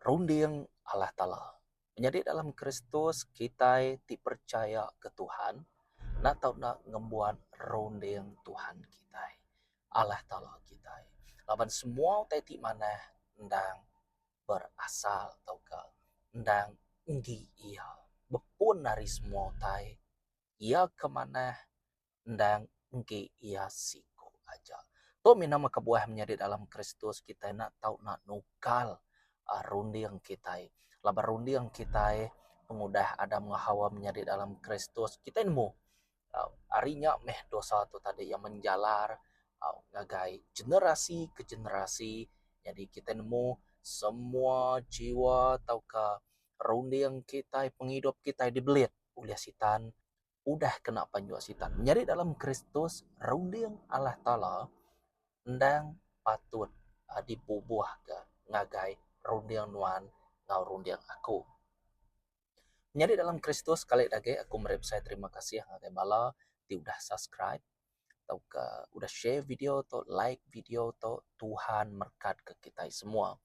Runding Allah Taala. Menyadi dalam Kristus, kitai ti percaya ke Tuhan enda tau enda ngembuan runding Tuhan kitai, Allah Taala kitai. Laban semua utai ti manah endang berasal tauka endang enggi Iya bepun ari semua utai. Iya ke manah endang enggi iya siku aja. Tu mina meh kebuah menyadi dalam Kristus kitai enda tau nak nukal a runding kitai laban runding kitai pengudah Adam enggau Hawa menyadi dalam Kristus kitai nemu ari nya meh dosa tu tadi iya menjalar ngagai generasi ke generasi jadi kitai nemu semua jiwa tauka runding kitai pengidup kitai dibelit ulih Sitan. udah kena panjua Sitan. Menyadi dalam Kristus, runding Allah Taala endang patut dibubuhka ngagai runding nuan enggau runding aku. Menyadi dalam Kristus, kalik agi aku meri besai terima kasih ngagai bala ti udah subscribe tauka udah share video tu like video tu Tuhan merekatka kitai semua.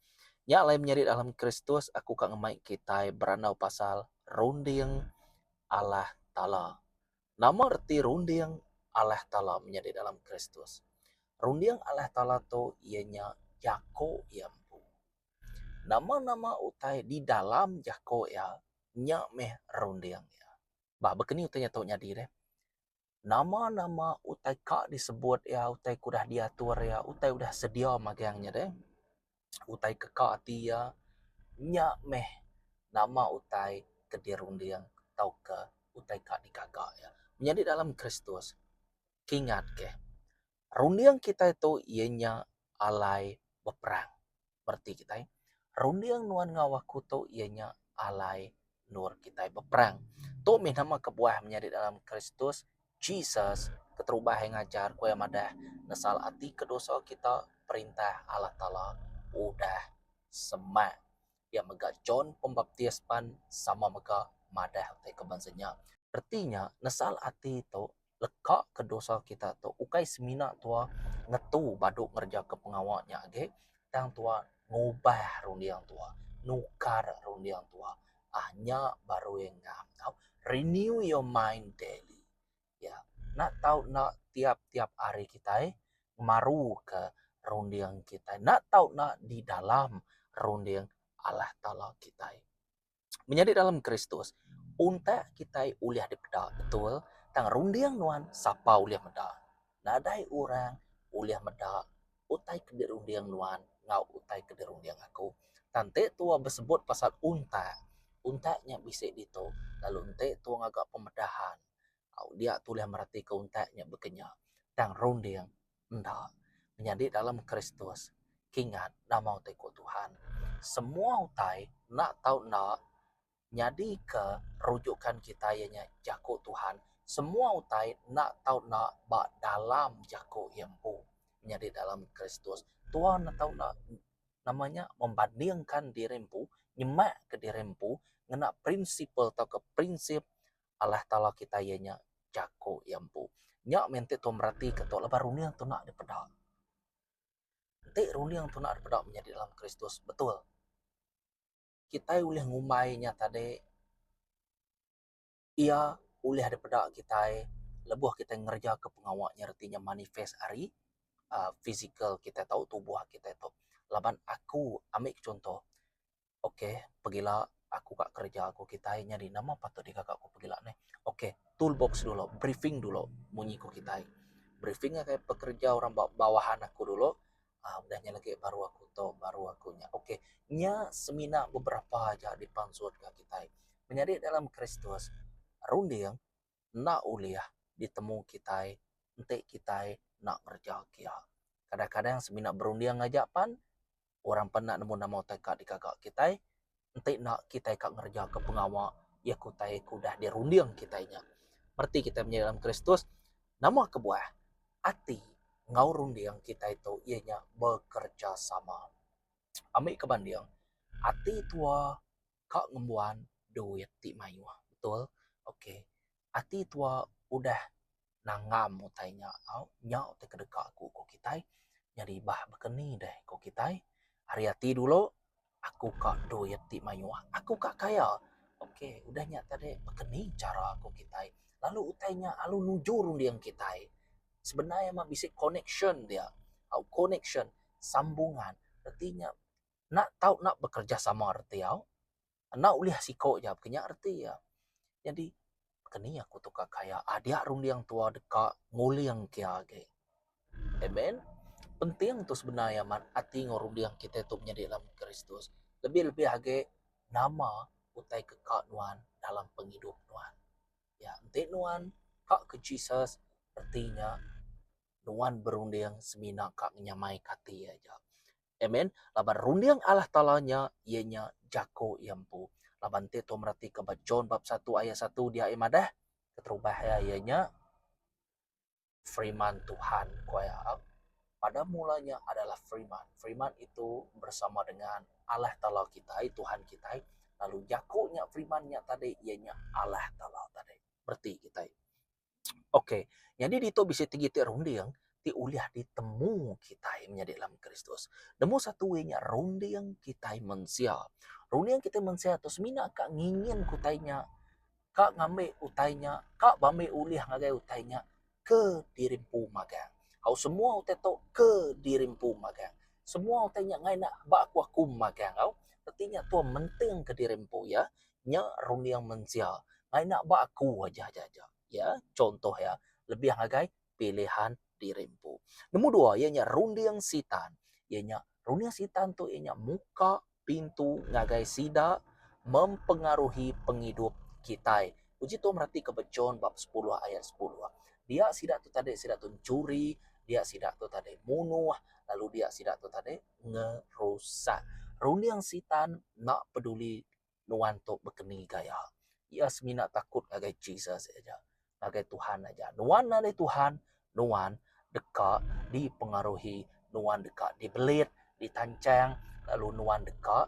Nya alai menyerit dalam Kristus aku ka ngemai kitai berandau pasal runding Allah Taala. Nama reti runding Allah Taala menyerit dalam Kristus? Runding Allah Taala tu iya nya jako iya empu. Nama-nama utai di dalam jako iya nya meh runding iya. Bah baka ni utai nya tau nyadi deh. nama-nama utai ka disebut iya, utai ke udah diatur iya, utai udah sedia magang iya deh, utai ke ka ati iya, nya meh nama utai ke dirunding tauka utai ka digaga iya. Menyadi dalam Kristus, kingatkah Runding kitai tu iya nya alai beperang. Bereti kitai, runding nuan enggau aku tu iya nya alai endur kitai beperang. Tu mih nama kebuah menyadi dalam Kristus Jesus keterubah iya ngajar ku iya madah nesal ati ke dosa kita perintah Allah Taala udah semak. Iya mega John Pembaptis pan sama mega madah utai ke bansa nya. Reti nya, nesal ati tu leka ke dosa kita tu ukai semina tuah ngetu badu ngerejaka pengawa nya agi, tang tuah ngubah runding tuah, nukar runding tuah. Aah nya baru iya ngam tau. Renew your mind daily. iya enda tau enda tiap-tiap hari kitai ngemaruka runding kitai enda tau enda di dalam runding Allah Taala kitai. Menyadi dalam Kristus untak kitai ulih dipeda betul tang runding nuan sapa ulih meda. Nadai orang ulih meda utai ke dirunding nuan enggau utai ke dirunding aku. Tang enti tuwa besebut pasal untak, untak nya bisi ditu lalu enti tuwa ngaga pemedahan. Au dia tulih meratika utai nya bekenya tang runding enda. Menyadi dalam Kristus kingat nama utai ku Tuhan. Semua utai enda tau enda nyadika rujukan kitai iya nya jaku Tuhan. Semua utai enda tau enda ba dalam jaku iya empu. Menyadi dalam Kristus tuan enda tau enda nama nya membandingkan diri empu, nyemakka diri empu ngena prinsipal tauka prinsip Allah Taala kitai iya nya Jaku iya empu. Nya meh enti tau meratika tu laban runding tuna dipeda. Enti runding tuna dipeda menyadi dalam Kristus betul. Kitai ulih ngumbai nya tadi iya ulih dipeda kitai lebuh kitai ngereja ke pengawa nya reti nya manifest ari aaa physical kitai tau tubuh kitai tau. Laban aku ambi chunto. Ok pegila aku ka kerja aku kitai nyadi nama patut digaga ku pegila neh. Ok tool box dulu briefing dulu munyi ku kitai. Briefing agai pekerja orang ba bawahan aku dulu uhh udah nya lagi baru aku tu baru aku nya ok nya semina beberapa aja dipansut ka kitai. Menyadi dalam kristus runding. enda ulih ditemu kitai enti kitai enda ngereja kia. Kadang-kadang semina berunding aja pan orang pan enda nemu nama utai ka digaga kitai enti enda kitai ka ngereja ka pengawa iya ke utai ke udah dirunding kitai nya. Bereti kitai menyadi dalam Kristus nama kebuah ati enggau runding kitai tu iya nya bekerejasama. Ambika banding ati tua ka ngembuan duit ti mayuh betul ok ati tua udah nanggam utai nya tau nya utai ke deka ku ko kitai nyadi bah beken ni deh ko kitai ari ati dulu aku ka duit ti mayuh aku ka kaya ok udah nya tadi beken ni chara ko kitai lalu utai nya lalu mujur ending kitai sebenar meh bisi connection dia au connection sambungan reti nya. enda tau nak bekerejasama reti au enda ulih siko ja ke nya reti iya nyadi keni aku tukar kaya adik aku runding tua deka nguling ke age en meh penting tu sebenar iya mat ati enggau runding kite tu menyadi dalam kristus lebih lebih age nama utai ke ka nuan dalam pengidup nuan ya enti nuan ka ke jesus reti nya nuan berunding semina ka nyamai ka ati iya ja Amen. Laban runding Allah Taala nya iya nya jako iya empu. Laban enti tau meratika ba John bab satu ayat satu dia ai madah keterubah iya iya nya Firman Tuhan ko iya. Pada mula nya adalah Firman. Firman itu bersama dengan Allah Taala kitai, Tuhan kitai. Lalu jako nya Firman nya tadi iya nya Allah Taala tadi. Bereti kitai. Ok, nyadi ditu bisi tegi ti runding ti ulih ditemu kitai menyadi dalam Kristus. Nemu satu iya nya runding kitai mensia. Runding kitai mensia tu semina ka ngingin ke utai nya, ka ngambi utai nya, ka ba ambi ulih ngagai utai nya ke diri empu magang. Au semua utai tu ke diri empu magang. Semua utai nya ngena ba aku-aku magang au. Reti nya tuai mentingka diri empu iya. nya runding mensia ngak ina ba aku aja aja aja iya contoh iya lebih ngagai pilihan diri empu. Nombor dua iya nya runding sitan iya nya runding sitan tu iya nya muka pintu ngagai sida mempengaruhi pengidup kitai uji tu meratik ka ba John bab sepuluh ayat sepuluh dia sida tu tadi sida tu mencuri dia sida tu tadi munuh lalu dia sida tu tadi ngerusak runding sitan enda peduli. nuan tu bekeni gaya iya semina takut ngagai Jesus aja ngagai Tuhan aja. Nuan nadai Tuhan nuan deka dipengaruhi nuan deka dibelit ditanchang lalu nuan deka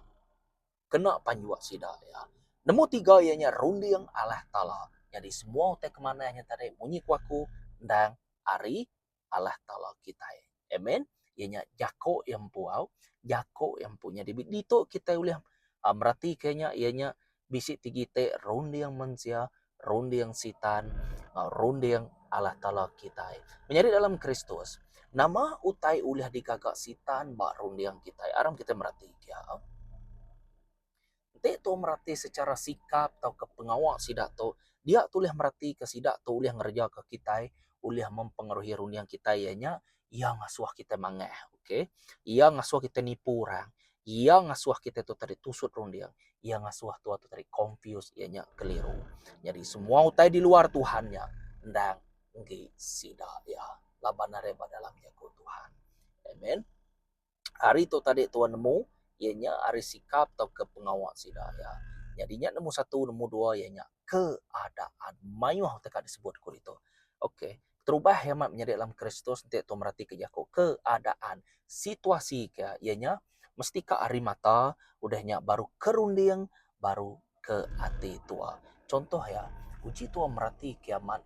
kena panjuk sida iya. Nombor tiga iya nya runding Allah Taala. Nyadi semua utai kemanah nya tadi munyi ku aku endang ari Allah Taala kitai. Amen. Iya nya jako iya empu au, jako iya empu nyadi bi ditu kitai ulih a meratika iya nya iya nya bisi ti kite runding mensia, runding sitan enggau runding Allah Taala kitai. Menyadi dalam Kristus, nama utai ulih digaga sitan ba runding kitai? Aram kitai meratika. Enti tu merati secara sikap tauka pengawa sida tu, dia tu ulih meratika sida tu ulih ngereja kitai, ulih mempengaruhi runding kitai iya nya, iya ngasuh kitai manggah. Okey. Iya ngasuh kitai nipu orang. Iya ngasuh kitai tu tadi tusut runding. Iya ngasuh tua tu tadi confused iya nya keliru. Nyadi semua utai di luar Tuhan nya endang enggi sida iya laban are ba dalam jaku Tuhan. Amen. Ari tu tadi tuan nemu iya nya ari sikap tauka pengawa sida iya. Nyadi nya nemu satu nemu dua iya nya keadaan mayuh teka disebut ku ditu. Ok terubah iya amat menyadi dalam Kristus enti tuan meratika jaku keadaan situasi ke iya nya mesti ka ari mata udah nya baru ke runding baru ke ati tuan. Chunto iya uji tuan merati kiamat.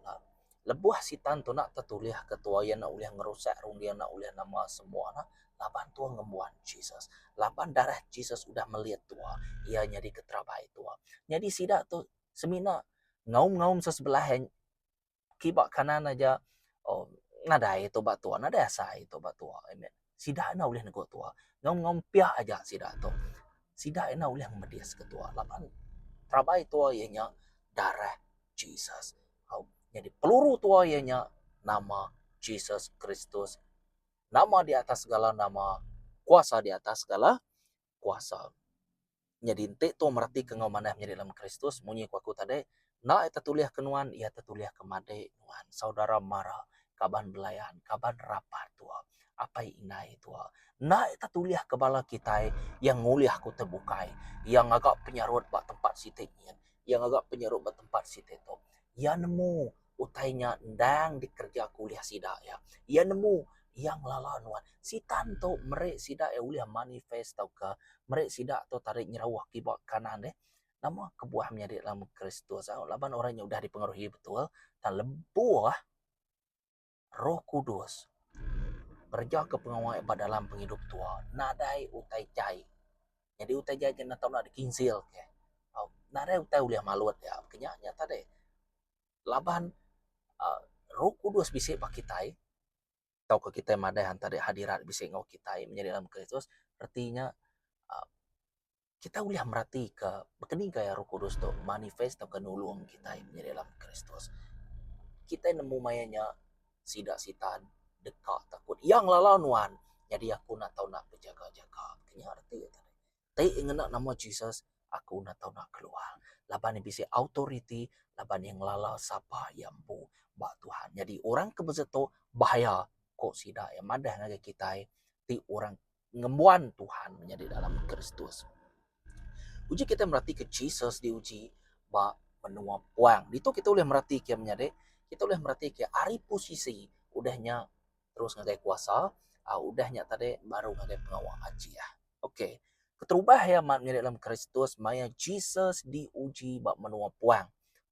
Lebuh Sitan tu enda tetulihka tua iya enda ulih ngerusak runding enda ulih nama semua ne laban tua ngembuan Jesus. Laban darah Jesus udah melit tua iya nyadi keterabai tua. Nyadi sida tu semina ngaum-ngaum se sebelah en kiba kanan aja nadai tu ba tua nadai asai tu ba tua. Amen. Sida enda ulih nego tua. Nyau ngempiak aja sida tu. Sida enda ulih ngemedis ke tua laban rabai tua iya nya darah Jesus. Au nyadi peluru tua iya nya nama Jesus Kristus. Nama di atas segala nama, kuasa di atas segala kuasa. Nyadi enti tu meratika enggau manah menyadi dalam Kristus munyi ku aku tadi, enda iya tetulihka nuan, iya tetulihka madik nuan, saudara mara, kaban belayan, kaban rapat tuak, apai indai tuak. Enda iya tetulihka bala kitai iya ngulih aku ti bukai, iya ngaga penyarut ba tempat siti nyin, iya ngaga penyarut ba tempat siti tu. Iya nemu. Utai nya endang dikereja ku ulih sida iya. Iya nemu iya ngelala nuan. Sitan tu meri sida iya ulih manifest tauka meri sida tu tadi nyerauh kiba kanan deh. Nama kebuah menyadi dalam Kristus? Laban orang nya udah dipengaruhi betul tang lebuh. Roh Kudus ngerejaka pengawa ba dalam pengidup tua nadai utai jai. Nyadi utai jai ti enda tau enda dikinsilka. Nadai utai ulih malut iya ke nya nya tadi laban uhh Roh Kudus bisi ba kitai tauka kitai madah enti hadirat bisi enggau kitai menyadi dalam Kristus reti nya uhh. kita ulih meratika baka ni gaya roh kudus tu manifest tauka nulung kitai nyadi anak kristus. Kitai nemu maya nya sida sitan deka takut iya ngelala nuan nyadi aku enda tau bejaga-jaga. Nya reti ne. Ti ngena nama Jesus aku enda tau nak keluar laban iya bisi authority laban iya ngelala sapa iya empu ba Tuhan. Nyadi orang ke besetu bahaya ku sida iya madah ngagai kitai ti orang ngembuan Tuhan menyadi dalam Kristus. Uji kita meratika Jesus diuji ba menua puang. Ditu kita boleh meratika menyadi kita boleh meratika ari posisi udahnya terus ngagai kuasa, uh, udahnya tadi baru ngagai pengawa aji ah. Okey. Keterubah ya mak menyadi dalam Kristus maya Jesus diuji ba menua puang.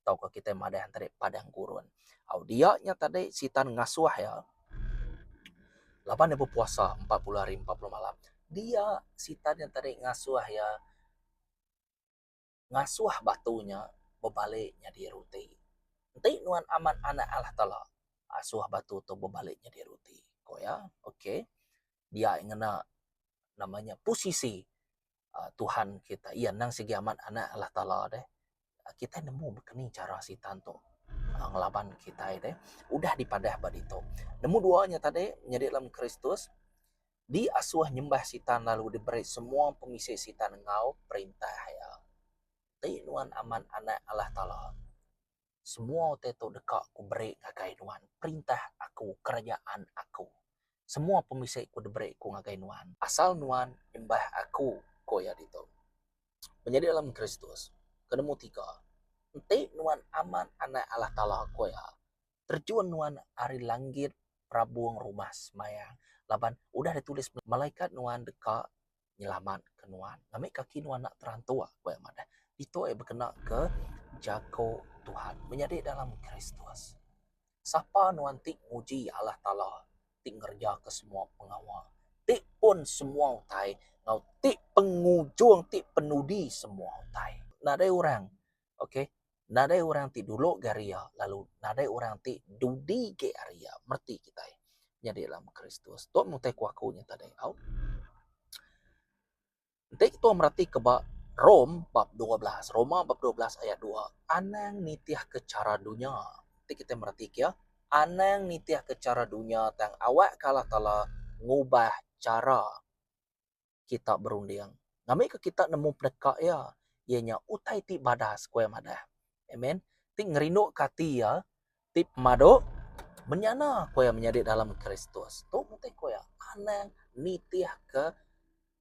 tauka kitai madah iya tadi padang gurun. Au dia nya tadi sitan ngasuh iya laban iya bepuasa empat puluh hari empat puluh malam. Dia sitan nya tadi ngasuh iya ngasuh batu nya bebalik nyadi ruti. Enti nuan amat anak Allah Taala asuh batu tu bebalik nyadi ruti, ku iya. Okey. Dia ngena nama nya pusisi. Tuhan kita iya endang sigi amat anak Allah Taala deh kita nemu keni chara Satan tu ngelaban kita deh udah dipadah ba ditu. Nombor dua nya tadi nyadi dalam Kristus diasuh nyembah Satan lalu diberi semua pemisi Satan enggau perintah iya. Ti nuan amat anak Allah Taala. Semua utai tu deka Aku beri ngagai nuan, perintah Aku, kerajaan Aku. Semua pemisi Aku diberi Aku ngagai nuan. Asal nuan nyembah Aku, ku iya ditu. Menyadi dalam Kristus, ke nemu tiga, enti nuan amat Anak Allah Taala, ku iya, terjun nuan ari langit perabung rumah semaya, laban udah ditulis, Malaikat nuan deka nyelamat ke nuan ngambika kaki nuan enda terantuk ku iya madah ditu iya bekena ke jaku Tuhan menyadi dalam Kristus. Sapa nuan ti nguji Allah Taala ti ngereja ke semua pengawa ti pun semua utai enggau ti pengujung ti penudi semua utai nadai orang Okay. Nadai orang ti dulu ga ari iya lalu nadai orang ti dudi ge ari iya. Mreti kitai nyadi alam Kristus. Tu mutai ku aku nya tadi au. Enti kitai mereti ke ba Rome bab dua belas, Roma bab dua belas ayat dua, anang nitihka chara dunya. Enti kitai mereti ke iya, anang nitihka chara dunya tang awakka Allah Taala ngubah chara. kita berunding. Ngambika kita nemu peneka iya, iya nya utai ti badas ku iya madah. Amen. Ti ngerinduka ati iya ti pemadu menyana ku iya menyadi dalam Kristus. Tu mesti ku iya anang nitihka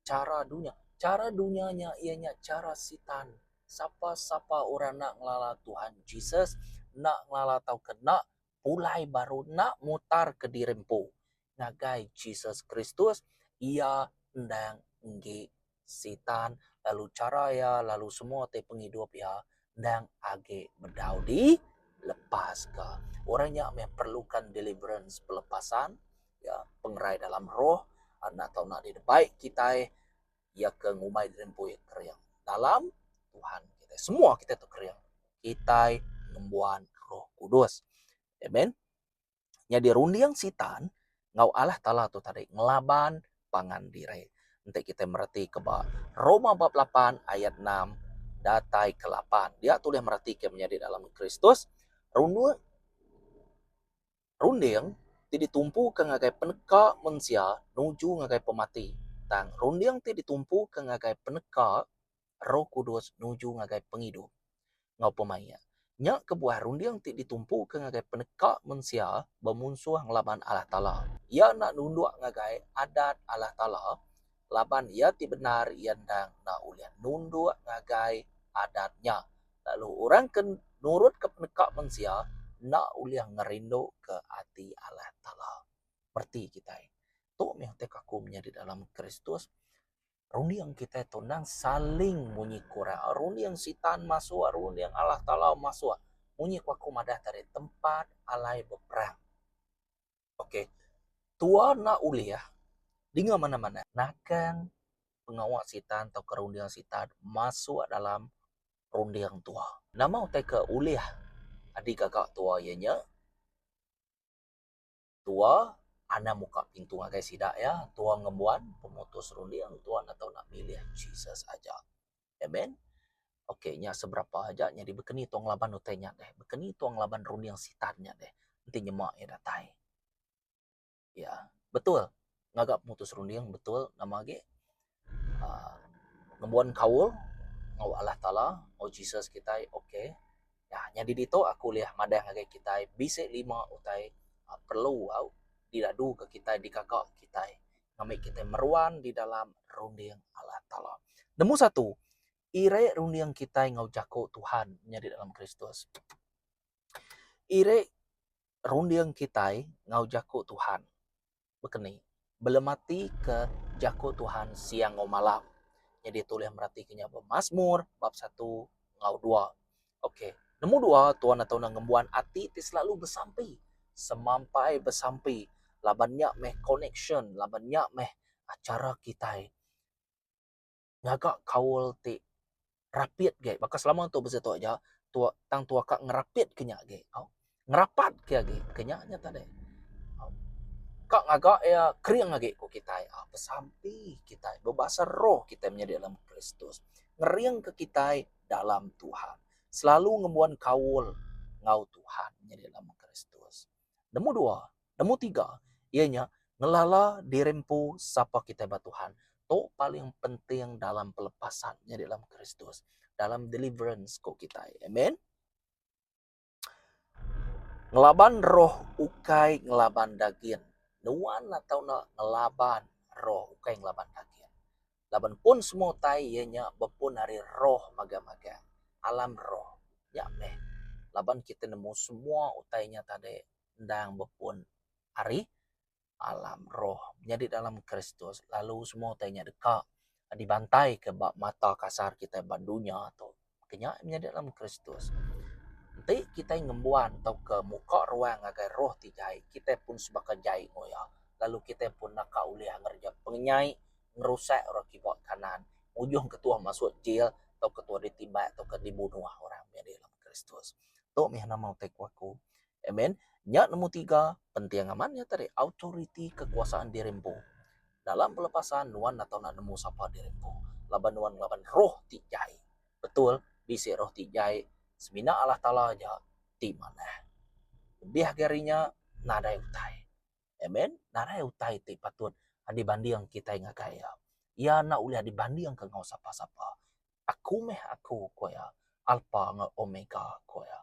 cara dunya. Cara dunya nya iya nya cara sitan. Sapa-sapa orang enda ngelala Tuhan Jesus, enda ngelala tauka enda pulai baru, enda mutarka diri empu. ngagai Jesus Kristus, iya endang enggi Sitan lalu chara iya lalu semua ti pengidup iya endang agi bedau dilepaska. Orang nya meh perluka deliverance, pelepasan, ya, pengerai dalam roh enda tau enda didebai kitai. Iya ke ngumbai diri empu iya kering dalam Tuhan kitai. Semua kitai tu kering kitai ngembuan Roh Kudus. Amen. Nyadi runding Sitan enggau Allah Taala tu tadi ngelaban pangan diri. Enti kitai meretika ba Roma bab lapan ayat enam datai ke lapan. Dia tu ulih meretika menyadi dalam Kristus runding runding ti ditumpuka ngagai peneka mensia nuju ngagai pemati. Tang runding ti ditumpuka ngagai peneka Roh Kudus nuju ngagai pengidup. Enggau pemaik, nya kebuah runding ti ditumpuka ngagai peneka mensia bemunsuh ngelaban Allah Taala. Iya enda nunduk ngagai adat Allah Taala laban iya ti bendar iya endang enda ulih nunduk ngagai adat nya. Lalu orang ke nurutka peneka mensia enda ulih ngerinduka ati Allah Taala. Mereti kitai. Tu meh utai kaku menyadi dalam Kristus. Runding kitai tu endang saling munyi kurang. Runding sitan masuk, runding Allah Taala masuk. Munyi ku aku madah tadi tempat alai beperang. Ok. Tua enda ulih dinga manah-manah nakang pengawa sitan atau runding sitan masuk dalam runding tua. Nama utai ke ulih adi gaga tua iya nya? Tua Anang muka pintu ngagai sida iya, tua ngembuan pemutus runding tua enda tau nak milih Jesus aja. Amen. Ok nya seberapa aja nyadi bekeni tua ngelaban utai nya deh. Bekeni tua ngelaban runding sitan nya deh enti nyema iya datai. Ya betul. ngaga pemutus runding betul nama agi aaa ngembuan kaul enggau Allah Taala enggau Jesus kitai ok nyadi ditu aku ulih madah ngagai kitai bisi lima utai perlu au diadu ke kitai digaga kitai ngambi kitai meruan di dalam runding Allah Taala. Nombor satu ira runding kitai enggau jaku Tuhan nyadi dalam Kristus. Ira runding kitai enggau jaku Tuhan. Bekeni, belematik ke jaku Tuhan siang enggau malam. Nyadi tu ulih meratik nya ba Masmur bab satu enggau dua. Ok, nemu dua Tuhan atau enda ngembuan ati ti selalu besampi, semampai besampi laban nya meh connection laban nya meh cara kitai. ngaga kaul ti rapit agi baka selama tu bisi tu aja tu tang tuak ka ngerapit ke nya agi tau. Ngerapat ke agi ke nya nya tadi. Ka ngaga iya kering agi ku kitai a besampi kitai bebasa roh kitai menyadi dalam Kristus ngering ke kitai dalam Tuhan selalu ngembuan kaul enggau Tuhan menyadi dalam Kristus. Nemu dua, nemu tiga iya nya ngelala diri empu sapa kitai ba Tuhan. Tu paling penting dalam pelepasan nyadi dalam Kristus, dalam deliverance ku kitai. Amen. Ngelaban roh ukai ngelaban dagin. Nuan atau enda ngelaban roh ukai ngelaban dagin. Laban pun semua utai iya nya bepun ari roh magang-magang, alam roh. Nya meh laban kitai nemu semua utai nya tadi endang bepun ari alam roh. Nyadi dalam Kristus lalu semua utai nya deka dibantaika ba mata kasar kitai ba dunya tu. ke nya nyadi dalam Kristus. Enti kitai ngembuan tauka muka ruang ngagai roh ti jai, kitai pun sebaka jai enggau iya lalu kitai pun naka ulih ngereja pengenyai ngerusak orang kiba kanan ngujung ke tuuh masuk jil tauka tuuh ditimbak tauka dibunuh orang nyadi dalam Kristus. Tu meh nama utai ku aku. Amen. Nya nemu tiga penting amat nya tadi authority kekuasaan diri empu. Dalam pelepasan nuan enda tau nak nemu sapa diri empu laban nuan ngelaban roh ti jai. Betul bisi roh ti jai semina Allah Taala aja ti manah. Lebih agi ari nya nadai utai. Amen. Nadai utai ti patut dibanding kitai ngagai iya. Iya enda ulih dibandingka enggau sapa-sapa. Aku meh aku, ku iya, Alpa enggau Omega, ku iya.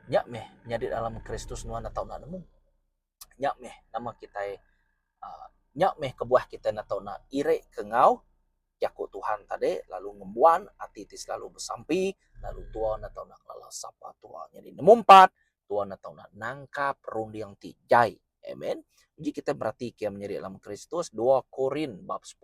Nya meh nyadi dalam Kristus nuan enda tau enda nemu. Nya meh nama kitai aaa nya meh kebuah kitai enda tau enda irika enggau jaku Tuhan tadi lalu ngembuan ati ti silalu besampi lalu tua enda tau enda ngelala sapa tua. Nyadi nemu empat Tuan enda tau nak nangkap runding ti jai. Amen. Uji kita beratika menyeri dalam Kristus 2 Korin bab 10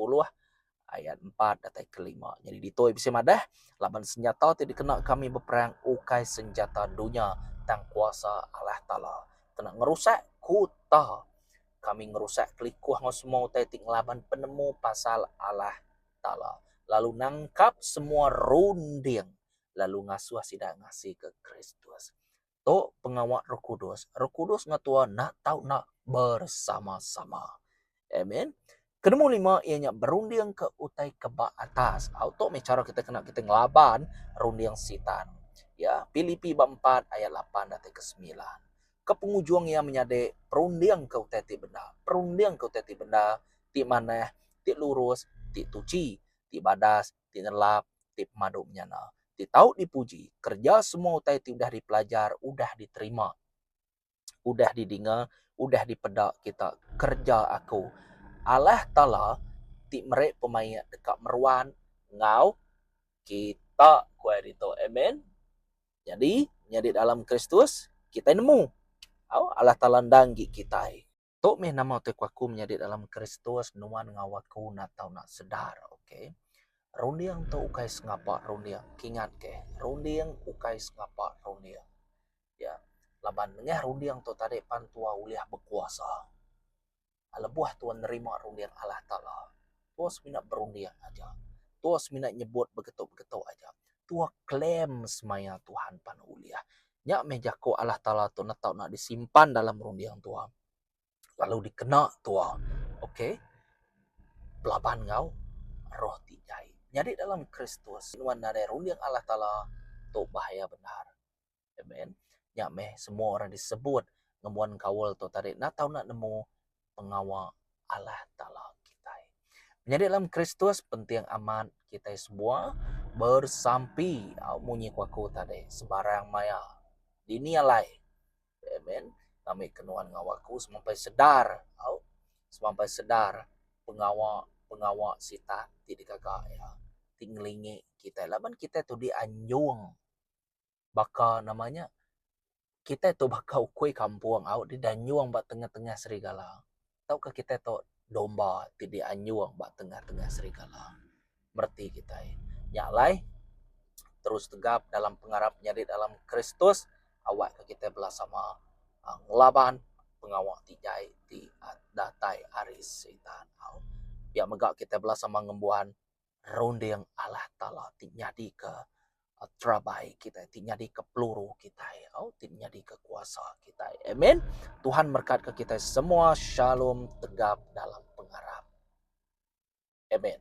ayat 4 datai ke 5. Jadi ditoi bisi madah laban senjata ti dikena kami beperang ukai senjata dunya tang kuasa Allah Taala. Kena ngerusak kuta. Kami ngerusak kelikuh ngau semua utai ti ngelaban penemu pasal Allah Taala. Lalu nangkap semua runding lalu ngasuh sida ngasika Kristus. Tu pengawa Roh Kudus. Roh Kudus ngetua enda tau enda bersama-sama. Amen. Kenemu lima ia nya berunding ke utai ke ba atas. Au tu meh cara kita kena kita ngelaban runding Sitan. Ya, Pilipi bab empat ayat lapan datai ke semilan. Ke pengujung ia menyadi perunding ke utai ti bendar. Perunding ke utai ti bendar, ti manah, ti lurus, ti tuchi, ti badas, ti nelap, ti pemadu menyana, ti tau dipuji kereja semua utai ti udah dipelajar, udah diterima, udah didinga, udah dipeda kita kereja aku Allah Taala ti meri pemaik deka meruan enggau kita ku aye ditu. Amen. Nyadi nyadi dalam Kristus kitai nemu au Allah Taala endang agi kitai. Tu mih nama tu ku aku menyadi dalam Kristus nuan enggau aku enda tau nak sedar ok. Runding tu ukai sengapa runding ke ingat ke runding ukai sengapa runding ya laban mengah runding tu tadi pan tua ulih bekuasa lebuh tua nerima runding Allah taala tua semina berunding aja tua semina nyebut begetu begetu aja tua claim semaya Tuhan pan ulih Nya meh jaku Allah Taala tu enda tau disimpan dalam runding tua lalu dikena tua ok belaban enggau roh ti jai. Nyadi dalam Kristus nuan nadai runding Allah Taala tu bahaya bendar. Amen. Nya meh semua orang disebut ngembuan kaul tu tadi enda tau nemu pengawa Allah Taala kitai. Menyadi dalam Kristus penting amat kitai semua bersampi munyi ku aku tadi sebarang maya dini alai. Amen. Kami ke nuan ngawa aku semampai sedar au semampai sedar pengawa pengawa sitak ti digaga iya ti ngelingi kitai laban kitai tudi anjung. baka nama nya kitai tu baka ukui kampung au deh dianyung ba tengah-tengah serigala tauka kitai tu domba ti dianyung ba tengah-tengah serigala bereti kitai. Nya alai terus tegap dalam pengarap nyadi dalam Kristus awak ka kitai bela sama aaa ngelaban pengawa ti jai ti datai ari Sitan au. Pia mega kitai bela sama ngembuan. runding Allah Taala ti nyadika terabai kitai ti nyadika peluru kitai au ti nyadika kuasa kitai. Amen. Tuhan merkatka kitai semua shalom tegap dalam pengarap. Amen.